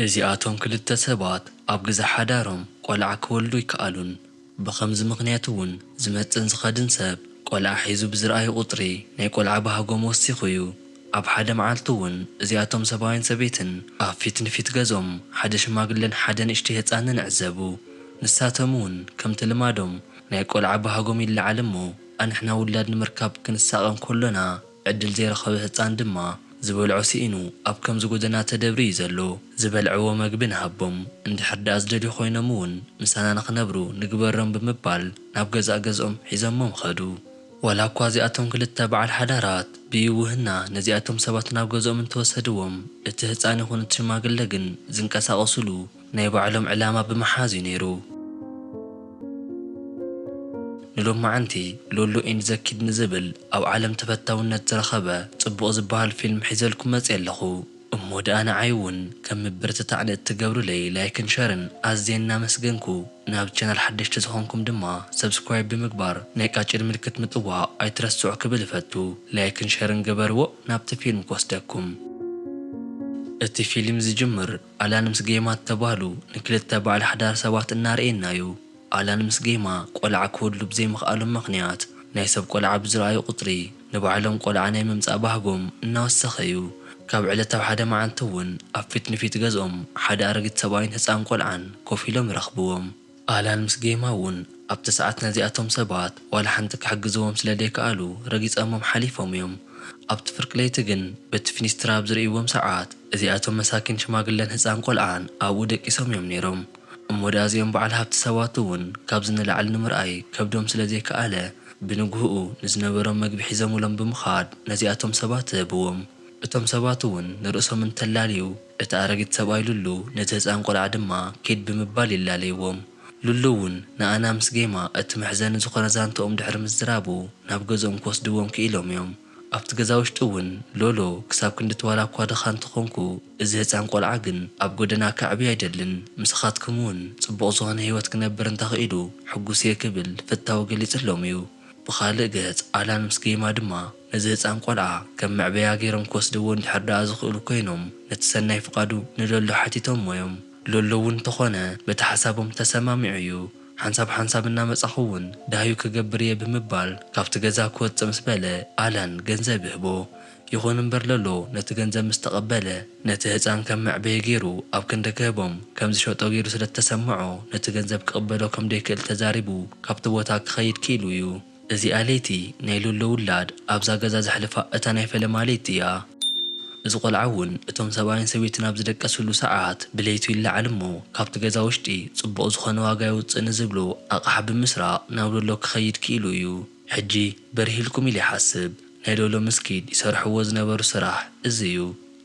እዚኣቶም ክልተ ሰባት ኣብ ግዘ ሓዳሮም ቆልዓ ክወልዱ ኣይከኣሉን። ብኸምዚ ምኽንያት እውን ዝመፅእን ዝኸድን ሰብ ቆልዓ ሒዙ ብዝርኣዩ ቁፅሪ ናይ ቆልዓ ባህጎም ወሲኹ እዩ። ኣብ ሓደ መዓልቲ እውን እዚኣቶም ሰብኣይን ሰበይትን ኣብ ፊት ንፊት ገዝኦም ሓደ ሽማግለን ሓደ ንእሽተይ ህፃንን ዕዘቡ። ንሳቶም እውን ከምቲ ልማዶም ናይ ቆልዓ ባህጎም ይለዓል እሞ ኣንሕና ውላድ ንምርካብ ክንሳቐ እንከሎና፣ ዕድል ዘይረኸበ ህጻን ድማ ዝበልዖ ስኢኑ ኣብ ከምዚ ጎደና ተደብርዩ ዘሎ ዝበልዕዎ መግቢ ንሃቦም እንድሕር ድኣ ዝደልዩ ኮይኖም እውን ምሳና ንኽነብሩ ንግበሮም ብምባል ናብ ገዛእ ገዝኦም ሒዞሞም ኸዱ። ዋላ እኳ እዚኣቶም ክልተ በዓል ሓዳራት ብይውህና ነዚኣቶም ሰባት ናብ ገዝኦም እንተወሰድዎም እቲ ህጻን ይኹን እቲ ሽማግለ ግን ዝንቀሳቐሱሉ ናይ ባዕሎም ዕላማ ብምሓዝ እዩ ነይሩ። ንሎማዓንቲ ሎሎ ኢን ዘ ኪድ ንዝብል ኣብ ዓለም ተፈታውነት ዝረኸበ ጽቡቕ ዝበሃል ፊልም ሒዘልኩም መጽየ ኣለኹ። እሞ ድኣ ንዓይ እውን ከም ምብርትታዕ ንእትገብሩለይ ላይክን ሸርን ኣዝየ እናመስገንኩ ናብ ቻናል ሓደሽቲ ዝኾንኩም ድማ ሰብስክራይብ ብምግባር ናይ ቃጭል ምልክት ምጥዋቕ ኣይትረስዑ ክብል እፈቱ። ላይክን ሸርን ግበርዎ ናብቲ ፊልም ክወስደኩም። እቲ ፊልም ዝጅምር ኣላን ምስ ጌማ እተባህሉ ንክልተ በዓል ሓዳር ሰባት እናርኣየና እዩ። ኣላን ምስ ጌማ ቆልዓ ክወልዱ ብዘይምኽኣሎም ምኽንያት ናይ ሰብ ቆልዓ ብዝረኣዩ ቁፅሪ ንባዕሎም ቆልዓ ናይ ምምፃእ ባህጎም እናወሰኸ እዩ። ካብ ዕለት ኣብ ሓደ መዓልቲ እውን ኣብ ፊት ንፊት ገዝኦም ሓደ ኣረጊት ሰብኣይን ህፃን ቆልዓን ኮፍ ኢሎም ይረኽብዎም። ኣላን ምስ ጌማ ውን ኣብቲ ሰዓት ነዚኣቶም ሰባት ዋላ ሓንቲ ክሕግዝዎም ስለ ደይከኣሉ ረጊጸሞም ሓሊፎም እዮም። ኣብቲ ፍርቂ ለይቲ ግን በቲ ፊኒስትራ ኣብ ዝርእይዎም ሰዓት እዚኣቶም መሳኪን ሽማግለን ህጻን ቆልዓን ኣብኡ ደቂሶም እዮም ነይሮም። እሞ ድኣ እዚኦም በዓል ሃብቲ ሰባት እውን ካብዚ ንላዕሊ ንምርኣይ ከብዶም ስለ ዘይከኣለ ብንግሁኡ ንዝነበሮም መግቢ ሒዘሙሎም ብምኻድ ነዚኣቶም ሰባት ህብዎም። እቶም ሰባት እውን ንርእሶም እንተላልዩ፣ እቲ ኣረጊት ሰብኣይ ሉሉ ነቲ ህጻን ቆልዓ ድማ ኪድ ብምባል ይላለይዎም። ሉሉ እውን ንኣና ምስ ጌማ እቲ መሕዘኒ ዝኾነ ዛንትኦም ድሕሪ ምዝራቡ ናብ ገዝኦም ክወስድዎም ክኢሎም እዮም። ኣብቲ ገዛ ውሽጢ እውን ሎሎ ክሳብ ክንድቲ ዋላ እኳ ድኻ እንተኾንኩ እዚ ህጻን ቆልዓ ግን ኣብ ጎደና ከዕብዮ ኣይደልን ምሳኻትኩም እውን ጽቡቕ ዝኾነ ህይወት ክነብር እንተኽኢሉ ሕጉስ እየ ክብል ፍታዉ ገሊጽሎም እዩ። ብኻልእ ገጽ ኣላን ምስ ጌማ ድማ ነዚ ህጻን ቆልዓ ከም መዕበያ ገይሮም ክወስድዎ እንድሕር ደኣ ዝኽእሉ ኮይኖም ነቲ ሰናይ ፍቓዱ ንሎሎ ሓቲቶሞ እዮም። ሎሎ እውን እንተኾነ በቲ ሓሳቦም ተሰማሚዑ እዩ። ሓንሳብ ሓንሳብ እናመጻኹ እውን ደሃዩ ክገብር እየ ብምባል ካብቲ ገዛ ክወጽእ ምስ በለ ኣላን ገንዘብ ይህቦ። ይኹን እምበር ሎሎ ነቲ ገንዘብ ምስ ተቐበለ ነቲ ህጻን ከም መዕበዪ ገይሩ ኣብ ክንዲ ክህቦም ከም ዝሸጦ ገይሩ ስለ እተሰምዖ ነቲ ገንዘብ ክቕበሎ ከም ደይክእል ተዛሪቡ ካብቲ ቦታ ክኸይድ ክኢሉ እዩ። እዚኣ ለይቲ ናይ ሎሎ ውላድ ኣብዛ ገዛ ዘሕልፋ እታ ናይ ፈለማ ለይቲ እያ። እዚ ቆልዓ እውን እቶም ሰብኣይን ሰበይትን ኣብ ዝደቀስሉ ሰዓት ብለይቱ ይለዓል እሞ ካብቲ ገዛ ውሽጢ ፅቡቕ ዝኾነ ዋጋ የውፅእ ንዝብሎ ኣቕሓ ብምስራቕ ናብ ሎሎ ክኸይድ ክኢሉ እዩ። ሕጂ በሪህልኩም ኢለ ይሓስብ። ናይ ሎሎ ምስ ኪድ ይሰርሕዎ ዝነበሩ ስራሕ እዚ እዩ።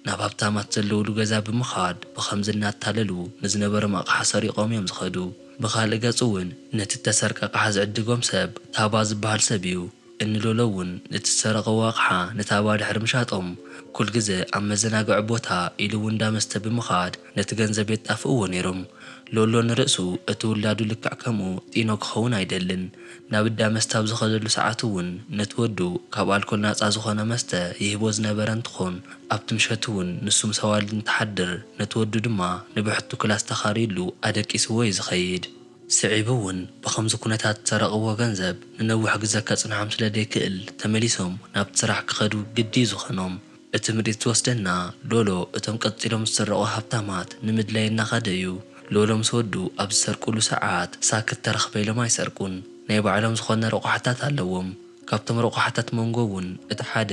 ናብ ሃብታማት ዘለዉሉ ገዛ ብምኻድ ብኸምዚ እናታለሉ ንዝነበሮም ኣቕሓ ሰሪቖም እዮም ዝኸዱ። ብኻልእ ገፅ እውን ነቲ እተሰርቀ ኣቕሓ ዝዕድጎም ሰብ ታባ ዝበሃል ሰብ እዩ። እኒ ሎሎ እውን ነቲ ዝሰረቐዎ ኣቕሓ ንታባ ድሕሪ ምሻጦም ኩልግዘ ኣብ መዘናግዒ ቦታ ኢሉ እውን እንዳ መስተ ብምኻድ ነቲ ገንዘብ የጣፍእዎ ነይሮም። ሎሎ ንርእሱ እቲ ውላዱ ልክዕ ከምኡ ጢኖ ክኸውን ኣይደልን። ናብ እዳ መስተ ኣብ ዝኸደሉ ሰዓት እውን ነቲ ወዱ ካብ ኣልኮል ናጻ ዝኾነ መስተ ይህቦ ዝነበረ እንትኾን ኣብቲ ምሸት እውን ንሱ ምስ ኣዋልድ እንትሓድር ነቲ ወዱ ድማ ንብሕቱ ክላስ ተኻርዩሉ ኣደቂስዎ እዩ ዝኸይድ። ስዒቡ እውን ብኸምዚ ኩነታት ዝሰረቕዎ ገንዘብ ንነዊሕ ግዘ ከጽንሖም ስለደይክእል ተመሊሶም ናብቲ ስራሕ ክኸዱ ግዲ እዩ ዝኾኖም። እቲ ምርኢት ዝወስደና ሎሎ እቶም ቀጺሎም ዝስረቑ ሃብታማት ንምድላይ እናኸደ እዩ። ሎሎ ምስ ወዱ ኣብ ዝሰርቁሉ ሰዓት ሳክት ተረኽበ ኢሎም ኣይሰርቁን። ናይ ባዕሎም ዝኾነ ረቑሓታት ኣለዎም። ካብቶም ረቑሓታት ሞንጎ እውን እቲ ሓደ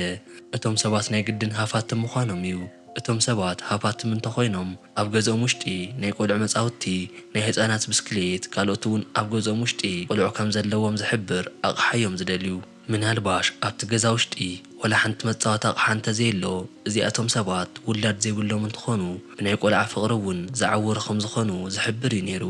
እቶም ሰባት ናይ ግድን ሃፋትም ምዃኖም እዩ። እቶም ሰባት ሃፋትም እንተኾይኖም ኣብ ገዝኦም ውሽጢ ናይ ቆልዑ መጻውቲ፣ ናይ ህጻናት ብስክሌት ካልኦት እውን ኣብ ገዝኦም ውሽጢ ቆልዑ ከምዘለዎም ዝሕብር ኣቕሓ እዮም ዝደልዩ። ምናልባሽ ኣብቲ ገዛ ውሽጢ ዋላ ሓንቲ መጻወቲ ኣቕሓ እንተዘየሎ፣ እዚኣቶም ሰባት ውላድ ዘይብሎም እንትኾኑ ብናይ ቆልዓ ፍቕሪ እውን ዝዓወሩ ከምዝኾኑ ዝሕብር እዩ ነይሩ።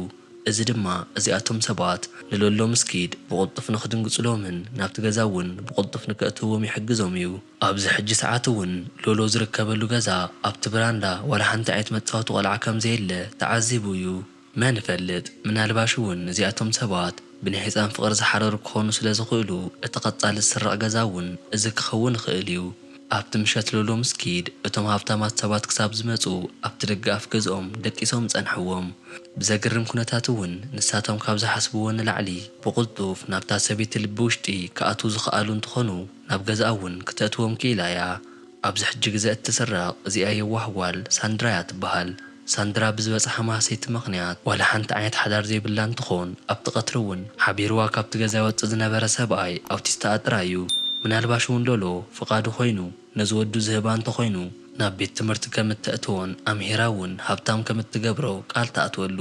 እዚ ድማ እዚኣቶም ሰባት ንለሎ ምስ ክይድ ብቕልጡፍ ንክድንግጹሎምን ናብቲ ገዛ እውን ብቕልጡፍ ንከእትውዎም ይሕግዞም እዩ። ኣብዚ ሕጂ ሰዓት እውን ሎሎ ዝርከበሉ ገዛ ኣብቲ ብራንዳ ዋላ ሓንቲ ዓይነት መጻወቲ ቆልዓ ከምዘየለ ተዓዚቡ እዩ። መን ይፈልጥ፣ ምናልባሽ'ውን እዚኣቶም ሰባት ብናይ ህጻን ፍቕሪ ዝሓረሩ ክኾኑ ስለ ዝኽእሉ፣ እቲ ቀጻሊ ዝስረቕ ገዛ'ውን እዚ ክኸውን ይኽእል'ዩ። ኣብቲ ምሸት ሎሎ ምስ ኪድ፣ እቶም ሃብታማት ሰባት ክሳብ ዝመጹ ኣብቲ ደገ ኣፍ ገዝኦም ደቂሶም ጸንሕዎም። ብዘግርም ኩነታት'ውን ንሳቶም ካብ ዝሓስብዎ ንላዕሊ ብቕልጡፍ ናብታ ሰበይቲ ልቢ ውሽጢ ክኣትዉ ዝኸኣሉ እንትኾኑ፣ ናብ ገዝኣ'ውን ክተእትዎም ክኢላ'ያ። ኣብዚ ሕጂ ግዘ እትስረቅ እዚኣ የዋህ ጓል ሳንድራያ ትበሃል ሳንድራ ብዝበፅሓ ማህሰይቲ ምክንያት ዋላ ሓንቲ ዓይነት ሓዳር ዘይብላ እንትኮን ኣብቲ ቀትሪ እውን ሓቢርዋ ካብቲ ገዛ ይወፅእ ዝነበረ ሰብኣይ ኣውቲስተኣ ጥራይ እዩ ምናልባሽ እውን ሎሎ ፍቃዱ ኮይኑ ነዚ ወዱ ዝህባ እንተኮይኑ ናብ ቤት ትምህርቲ ከም እተእትዎን ኣምሂራ እውን ሃብታም ከም እትገብሮ ቃል ትኣትወሉ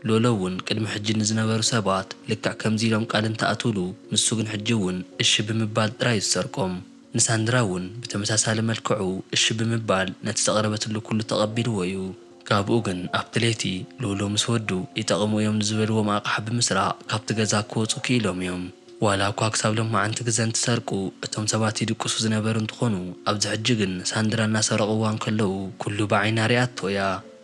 ሎሎ እውን ቅድሚ ሕጂ ንዝነበሩ ሰባት ልክዕ ከምዚ ኢሎም ቃል እንትኣትውሉ ንሱ ግን ሕጂ እውን እሺ ብምባል ጥራይ እዩ ዝሰርቆም። ንሳንድራ እውን ብተመሳሳሊ መልክዑ እሺ ብምባል ነቲ ዘቕረበትሉ ኩሉ ተቐቢልዎ እዩ። ካብኡ ግን ኣብቲ ለይቲ ሉሉ ምስ ወዱ ይጠቕሙ እዮም ንዝበልዎም ኣቕሓ ብምስራቕ ካብቲ ገዛ ክወጹ ክኢሎም እዮም። ዋላ እኳ ክሳብ ሎማዓንቲ ግዘ እንትሰርቁ እቶም ሰባት ይድቅሱ ዝነበሩ እንትኾኑ ኣብዚ ሕጂ ግን ሳንድራ እናሰረቕዋ እንከለዉ ኩሉ ብዓይና ሪኣቶ እያ።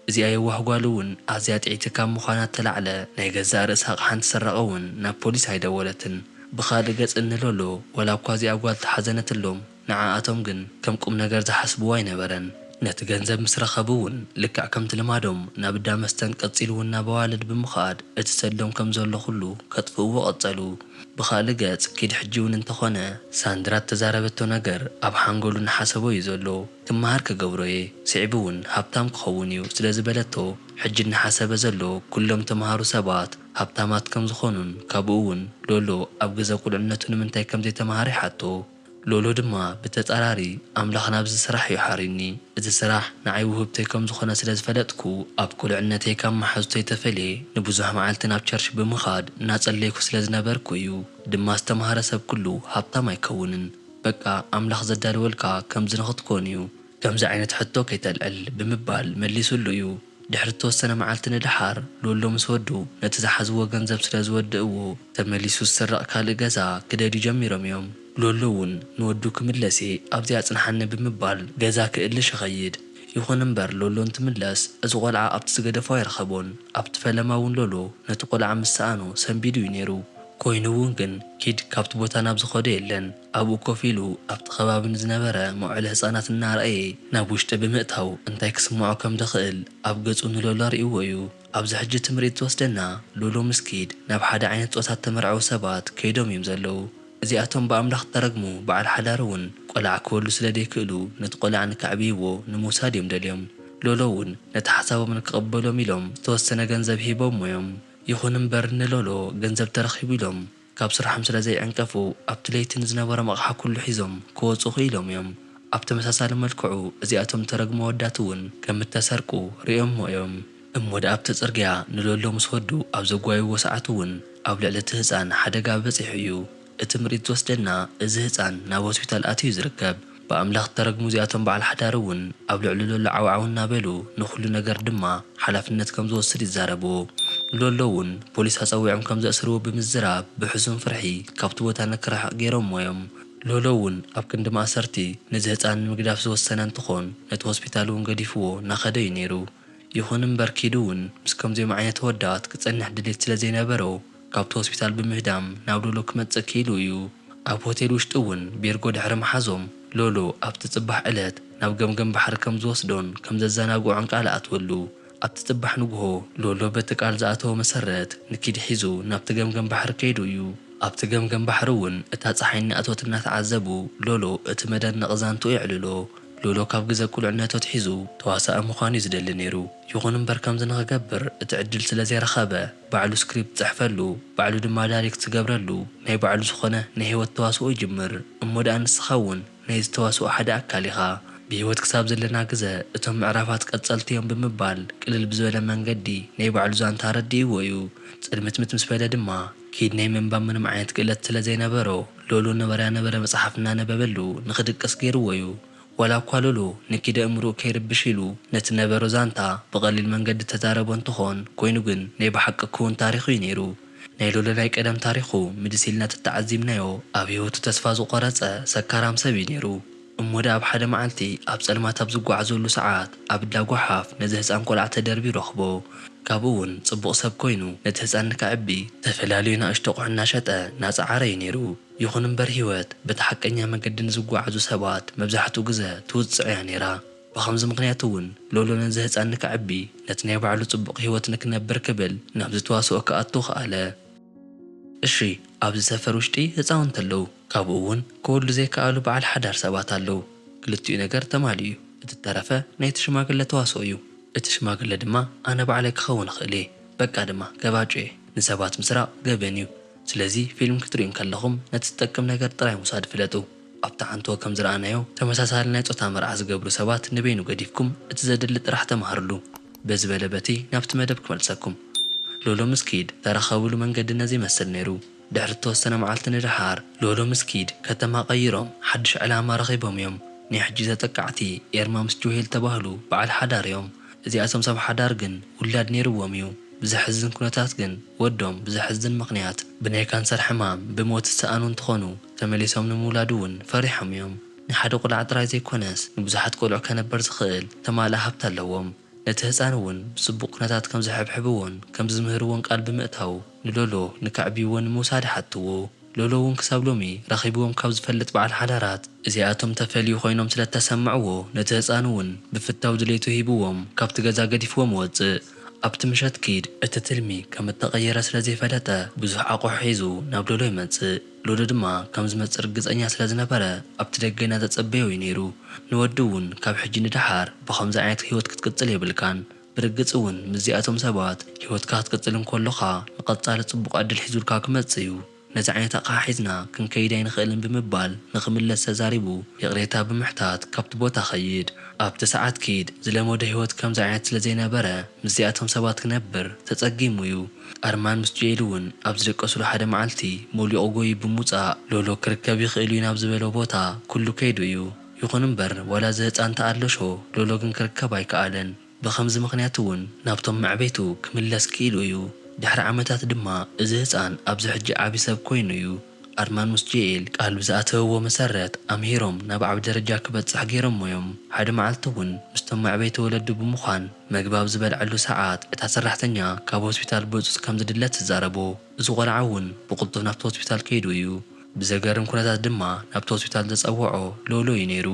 እዚኣ የዋህ ጓሉ እውን ኣዝያ ጥዕይቲ ካብ ምዃና እተላዕለ ናይ ገዛእ ርእሳ ኣቕሓ እንትስረቐ እውን ናብ ፖሊስ ኣይደወለትን። ብኻልእ ገፅ እንሎሎ ዋላ እኳ እዚኣ ጓል ተሓዘነትሎም ንዓኣቶም ግን ከም ቁም ነገር ዝሓስብዎ ኣይነበረን። ነቲ ገንዘብ ምስ ረኸቡ እውን ልክዕ ከምቲ ልማዶም ናብ እዳ መስተን ቀፂሉ እውን ናብ ኣዋልድ ብምኻድ እቲ ሰዶም ከም ዘሎ ኩሉ ከጥፍእዎ ቀፀሉ። ብኻልእ ገፅ ኪድ ሕጂ እውን እንተኾነ ሳንድራ እተዛረበቶ ነገር ኣብ ሓንጎሉ እናሓሰቦ እዩ ዘሎ። ክመሃር ክገብሮ'የ ስዒቡ'ውን ሃብታም ክኸውን'ዩ ስለ ዝበለቶ ሕጂ እናሓሰበ ዘሎ ኩሎም ተመሃሩ ሰባት ሃብታማት ከም ዝኾኑን ካብኡ'ውን ሎሎ ኣብ ግዘ ቁልዕነቱ ንምንታይ ከም ዘይተመሃረ ይሓቶ ሎሎ ድማ ብተፃራሪ ኣምላኽ ናብዚ ስራሕ'ዩ ሓርዩኒ እዚ ስራሕ ንዓይ ውህብቶይ ከም ዝኾነ ስለ ዝፈለጥኩ ኣብ ቁልዕነተይ ካብ መሓዙተይ ተፈልየ ንብዙሕ መዓልቲ ናብ ቸርች ብምኻድ እናፀለይኩ ስለ ዝነበርኩ'ዩ ድማ ዝተመሃረ ሰብ ኩሉ ሃብታም ኣይከውንን በቃ ኣምላኽ ዘዳለወልካ ከምዚ ንኽትኮን እዩ፣ ከምዚ ዓይነት ሕቶ ከይተልዕል ብምባል መሊሱሉ እዩ። ድሕሪ እተወሰነ መዓልቲ ንደሓር፣ ሎሎ ምስ ወዱ ነቲ ዝሓዝዎ ገንዘብ ስለ ዝወድእዎ፣ ተመሊሱ ዝስረቕ ካልእ ገዛ ክደልዩ ጀሚሮም እዮም። ሎሎ እውን ንወዱ ክምለስ'የ ኣብዚ ኣጽንሓኒ ብምባል ገዛ ክእልሽ ይኸይድ። ይኹን እምበር ሎሎ እንትምለስ እዚ ቆልዓ ኣብቲ ዝገደፎ ኣይረኸቦን። ኣብቲ ፈለማ እውን ሎሎ ነቲ ቆልዓ ምስ ሰኣኖ ሰንቢዱ እዩ ነይሩ። ኮይኑ እውን ግን ኪድ ካብቲ ቦታ ናብ ዝኸዶ የለን። ኣብኡ ኮፍ ኢሉ ኣብቲ ከባቢ ንዝነበረ መውዓሊ ህጻናት እናርኣየ ናብ ውሽጢ ብምእታው እንታይ ክስምዖ ከም ድኽእል ኣብ ገጹ ንሎሎ ኣርእይዎ እዩ። ኣብዚ ሕጂ እቲ ምርኢት ዝወስደና ሎሎ ምስ ኪድ ናብ ሓደ ዓይነት ጾታ እተመርዐዉ ሰባት ከይዶም እዮም ዘለዉ። እዚኣቶም ብኣምላኽ እተረግሙ በዓል ሓዳር እውን ቆልዓ ክወልዱ ስለ ደይክእሉ ነቲ ቆልዓ ንከዕብይዎ ንምውሳድ እዮም ደልዮም። ሎሎ እውን ነቲ ሓሳቦም ንክቕበሎም ኢሎም ዝተወሰነ ገንዘብ ሂቦሞ እዮም። ይኹን እምበር ንሎሎ ገንዘብ ተረኺቡ ኢሎም ካብ ስርሖም ስለ ዘይዕንቀፉ ኣብቲ ለይቲ ንዝነበሮም ኣቕሓ ኩሉ ሒዞም ክወጹ ክኢሎም እዮም። ኣብ ተመሳሳሊ መልክዑ እዚኣቶም እተረግሙ ኣወዳት እውን ከም እተሰርቁ ርእዮሞ እዮም እሞ ደኣ ኣብቲ ጽርግያ ንሎሎ ምስ ወዱ ኣብ ዘጓዩዎ ሰዓት እውን ኣብ ልዕሊ እቲ ህጻን ሓደጋ በጺሑ እዩ። እቲ ምሪት ዝወስደና እዚ ህጻን ናብ ሆስፒታል ኣትዩ ዝርከብ ብኣምላኽ ዝተረግሙ እዚኣቶም በዓል ሓዳር እውን ኣብ ልዕሉ ሎሎ ዓው ዓው እናበሉ ንኹሉ ነገር ድማ ሓላፍነት ከም ዝወስድ ይዛረቡ ንሎሎ እውን ፖሊስ ኣጸዊዖም ከም ዘእስርዎ ብምዝራብ ብሕሱም ፍርሒ ካብቲ ቦታ ንክርሕቕ ገይሮሞ እዮም ሎሎ እውን ኣብ ክንዲ ማእሰርቲ ነዚ ህጻን ንምግዳፍ ዝወሰነ እንትኾን ነቲ ሆስፒታል እውን ገዲፍዎ ናኸደ እዩ ነይሩ ይኹን እምበር ኪዱ እውን ምስ ከምዚኦም ዓይነት ኣወዳት ክጸንሕ ድሌት ስለ ዘይነበሮ ካብቲ ሆስፒታል ብምህዳም ናብ ሎሎ ክመጽእ ክኢሉ እዩ። ኣብ ሆቴል ውሽጢ እውን ቤርጎ ድሕሪ ምሓዞም፣ ሎሎ ኣብቲ ጽባሕ ዕለት ናብ ገምገም ባሕሪ ከም ዝወስዶን ከም ዘዘናግዖን ቃል ኣእትወሉ። ኣብቲ ጽባሕ ንግሆ፣ ሎሎ በቲ ቃል ዝኣተዎ መሰረት ንኪድ ሒዙ ናብቲ ገምገም ባሕሪ ከይዱ እዩ። ኣብቲ ገምገም ባሕሪ እውን እታ ጸሓይ እናኣተወት እናተዓዘቡ ሎሎ እቲ መደነቒ ዛንትኡ የዕልሎ። ሎሎ ካብ ግዘ ቁልዕነቱ ኣትሒዙ ተዋሳኢ ምዃን እዩ ዝደሊ ነይሩ። ይኹን እምበር ከምዚ ንኽገብር እቲ ዕድል ስለ ዘይረኸበ፣ ባዕሉ ስክሪፕት ዝጽሕፈሉ፣ ባዕሉ ድማ ዳሪክት ዝገብረሉ፣ ናይ ባዕሉ ዝኾነ ናይ ሂወት ተዋስኦ ይጅምር። እሞ ድኣ ንስኻ ውን ናይዚ ተዋስኦ ሓደ ኣካል ኢኻ። ብሂወት ክሳብ ዘለና ግዘ እቶም ምዕራፋት ቀጸልቲ ዮም ብምባል ቅልል ብዝበለ መንገዲ ናይ ባዕሉ ዛንታ ኣረዲእዎ ዩ። ጽልምትምት ምስ በለ ድማ ኪድ ናይ ምንባብ ምንም ዓይነት ክእለት ስለ ዘይነበሮ ሎሎ ነበረያ ነበረ መጽሓፍ እናነበበሉ ንኽድቅስ ገይርዎ ዩ። ዋላ እኳ ሉሉ ንኪደ እምርኡ ከይርብሽ ኢሉ ነቲ ነበሮ ዛንታ ብቐሊል መንገዲ እተዛረቦ እንተኾን፣ ኮይኑ ግን ናይ ብሓቂ ክዉን ታሪኽ እዩ ነይሩ። ናይ ሉሉ ናይ ቀደም ታሪኹ ምልስ ኢልና ተተዓዚብናዮ ኣብ ህይወቱ ተስፋ ዝቖረጸ ሰካራም ሰብ እዩ ነይሩ። እሞ ደኣ ኣብ ሓደ መዓልቲ ኣብ ጸልማት ኣብ ዝጓዓዘሉ ሰዓት ኣብ እዳ ጎሓፍ ነዚ ህጻን ቆልዓ ተደርብዩ ረኽቦ። ካብኡ ውን ጽቡቕ ሰብ ኮይኑ ነቲ ህጻን ንከዕቢ ተፈላልዩ ናእሽቱ ኣቑሑ እናሸጠ ናጸዓረ እዩ ነይሩ። ይኹን እምበር ህይወት በቲ ሓቀኛ መገዲ ንዝጓዓዙ ሰባት መብዛሕትኡ ግዘ ትውፅዕ እያ ነይራ። ብኸምዚ ምኽንያት እውን ሎሎ ነዚ ህፃን ንከዕቢ ነቲ ናይ ባዕሉ ፅቡቕ ህይወት ንክነብር ክብል ናብዚ ተዋስኦ ክኣቱ ከኣለ። እሺ ኣብዚ ሰፈር ውሽጢ ህፃውንቲ ኣለው ካብኡ እውን ክወልዱ ዘይከኣሉ በዓል ሓዳር ሰባት ኣለው። ክልቲኡ ነገር ተማሊኡ እዩ። እቲ ዝተረፈ ናይቲ ሽማግለ ተዋስኦ እዩ። እቲ ሽማግለ ድማ ኣነ ባዕለይ ክኸውን እኽእል እየ። በቃ ድማ ገባጩ እየ። ንሰባት ምስራቕ ገበን እዩ። ስለዚ ፊልም ክትርእዩ እንከለኹም ነቲ ዝጠቅም ነገር ጥራይ ምውሳድ ፍለጡ። ኣብቲ ሓንትዎ ከም ዝረኣናዮ ተመሳሳሊ ናይ ጾታ መርዓ ዝገብሩ ሰባት ንበይኑ ገዲፍኩም እቲ ዘድሊ ጥራሕ ተማሃርሉ። በዚ በለ በቲ ናብቲ መደብ ክመልሰኩም። ሎሎ ምስ ኪድ ተራኸብሉ መንገዲ ነዚ ይመስል ነይሩ። ድሕሪ እተወሰነ መዓልቲ ንደሓር ሎሎ ምስ ኪድ ከተማ ቀይሮም ሓድሽ ዕላማ ረኺቦም እዮም። ናይ ሕጂ ተጠቃዕቲ ኤርማ ምስ ጆሄል ዝተባህሉ በዓል ሓዳር እዮም። እዚኣቶም ሰብ ሓዳር ግን ውላድ ነይርዎም እዩ። ብዘሕዝን ኩነታት ግን። ወዶም ብዘሕዝን ምኽንያት ብናይ ካንሰር ሕማም ብሞት ዝሰኣኑ እንትኾኑ፣ ተመሊሶም ንምውላድ እውን ፈሪሖም እዮም። ንሓደ ቁልዓ ጥራይ ዘይኮነስ ንብዙሓት ቆልዑ ከነበር ዝኽእል ተማልኣ ሃብቲ ኣለዎም። ነቲ ህጻን እውን ብጽቡቕ ኩነታት ከምዝሕብሕብዎን ከምዝምህርዎን ቃል ብምእታው ንሎሎ ንከዕብይዎ ንምውሳድ ይሓትዎ። ሎሎ እውን ክሳብ ሎሚ ረኺብዎም ካብ ዝፈልጥ በዓል ሓዳራት እዚኣቶም ተፈልዩ ኮይኖም ስለ እተሰምዕዎ ነቲ ህጻን እውን ብፍታው ድሌቱ ሂብዎም ካብቲ ገዛ ገዲፍዎም ወጽእ ኣብቲ ምሸት ኪድ እቲ ትልሚ ከም እተቐየረ ስለ ዘይፈለጠ ብዙሕ ኣቑሑ ሒዙ ናብ ሎሎ ይመጽእ ሎሎ ድማ ከም ዝመጽእ ርግጸኛ ስለ ዝነበረ ኣብቲ ደገ እናተጸበዮ እዩ ነይሩ ንወዲ እውን ካብ ሕጂ ንደሓር ብኸምዚ ዓይነት ህይወት ክትቅጽል የብልካን ብርግጽ እውን ምስዚኣቶም ሰባት ህይወትካ ክትቅጽል እንከሎኻ ንቐጻሊ ጽቡቕ ዕድል ሒዙልካ ክመጽእ እዩ። ነዚ ዓይነት ኣቕሓ ሒዝና ክንከይድ ኣይንኽእልን ብምባል ንኽምለስ ተዛሪቡ ይቕሬታ ብምሕታት ካብቲ ቦታ ኸይድ። ኣብቲ ሰዓት ኪድ ዝለመዶ ህይወት ከምዚ ዓይነት ስለ ዘይነበረ ምስዚኣቶም ሰባት ክነብር ተጸጊሙ እዩ። ኣርማን ምስ ጆኤል እውን ኣብ ዝደቀሱሉ ሓደ መዓልቲ ሞሊቑ ጎይዩ ብምውጻእ ሎሎ ክርከብ ይኽእል እዩ ናብ ዝበሎ ቦታ ኩሉ ከይዱ እዩ። ይኹን'ምበር ዋላ እዚ ህጻን ተኣለሾ ሎሎ ግን ክርከብ ኣይከኣለን። ብኸምዚ ምኽንያት'ውን ናብቶም መዕበይቱ ክምለስ ክኢሉ እዩ። ድሕሪ ዓመታት ድማ እዚ ህጻን ኣብዚ ሕጂ ዓቢ ሰብ ኮይኑ እዩ። ኣርማን ምስ ጀኤል ቃል ብዝኣተውዎ መሰረት ኣምሂሮም ናብ ዓቢ ደረጃ ክበጽሕ ገይሮሞ እዮም። ሓደ መዓልቲ'ውን ምስቶም መዕበይቲ ወለዱ ብምዃን መግቢ ኣብ ዝበልዐሉ ሰዓት እታ ሰራሕተኛ ካብ ሆስፒታል ብህጹጽ ከም ዝድለ ትዛረቦ። እዚ ቆልዓ እውን ብቕልጡፍ ናብቲ ሆስፒታል ከይዱ እዩ። ብዘገርም ኩነታት ድማ ናብቲ ሆስፒታል ዘጸውዖ ሎሎ እዩ ነይሩ።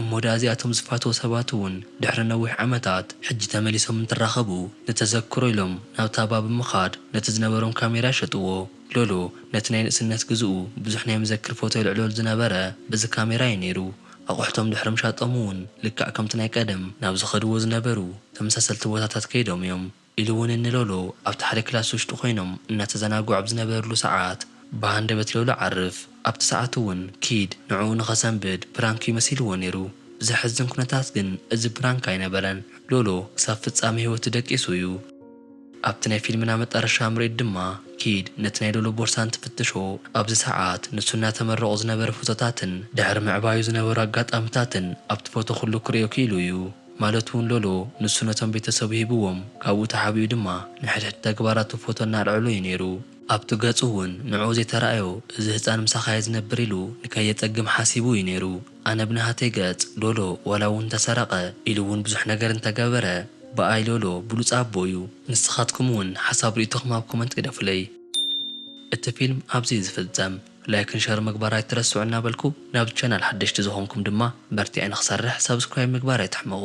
እሞ ደኣ እዚኣቶም ዝፋተዉ ሰባት እውን ድሕሪ ነዊሕ ዓመታት ሕጂ ተመሊሶም እንትራኸቡ ንተዘክሮ ኢሎም ናብታ ባብ ብምኻድ ነቲ ዝነበሮም ካሜራ ይሸጥዎ። ሎሎ ነቲ ናይ ንእስነት ግዝኡ ብዙሕ ናይ መዘክር ፎቶ የልዕለሉ ዝነበረ በዚ ካሜራ እዩ ነይሩ። ኣቑሑቶም ድሕሪ ምሻጦም እውን ልክዕ ከምቲ ናይ ቀደም ናብ ዝኸድዎ ዝነበሩ ተመሳሰልቲ ቦታታት ከይዶም እዮም። ኢሉ እውን ንሎሉ ኣብቲ ሓደ ክላስ ውሽጢ ኮይኖም እናተዘናግዑ ኣብ ዝነበርሉ ሰዓት ብሃንደበት ሎሉ ዓርፍ ኣብቲ ሰዓት እውን ኪድ ንዕኡ ንኸሰንብድ ፕራንክ እዩ መሲልዎ ነይሩ ብዘሕዝን ኩነታት ግን እዚ ፕራንክ ኣይነበረን ሎሉ ክሳብ ፍፃመ ህይወቱ ደቂሱ እዩ። ኣብቲ ናይ ፊልምና መጣረሻ ምርኢት ድማ ኪድ ነቲ ናይ ሎሉ ቦርሳ እንትፍትሾ ኣብዚ ሰዓት ንሱ እናተመረቑ ዝነበረ ፎቶታትን ድሕሪ ምዕባዩ ዝነበሩ ኣጋጣምታትን ኣብቲ ፎቶ ኩሉ ክርእዮ ክኢሉ እዩ። ማለት'ውን ሎሎ ንሱ ነቶም ቤተሰቡ ሂብዎም ካብኡ ተሓቢኡ ድማ ንሕድሕድ ተግባራቱ ፎቶ እናልዐሎ'ዩ ነይሩ። ኣብቲ ገጹ'ውን ንዕኡ ዘይተራእዮ እዚ ህጻን ምሳኻ'የ ዝነብር ኢሉ ንከየጸግም ሓሲቡ'ዩ ነይሩ። ኣነ ብናሃተይ ገጽ ሎሎ ዋላ'ውን እንተሰረቐ ኢሉ'ውን ብዙሕ ነገር እንተገበረ ብኣይ ሎሎ ብሉጽ ኣቦ'ዩ። ንስኻትኩም'ውን ሓሳብ ርእይቶኹም ኣብ ኮመንት ግደፉለይ። እቲ ፊልም ኣብዚ'ዩ ዝፍጸም። ላይክን ሸር ምግባር ኣይትረስዑ እናበልኩ ናብዚ ቻናል ሓደሽቲ ዝኾንኩም ድማ በርቲዐ ንኽሰርሕ ሳብስክራይብ ምግባር ኣይትሕመቑ።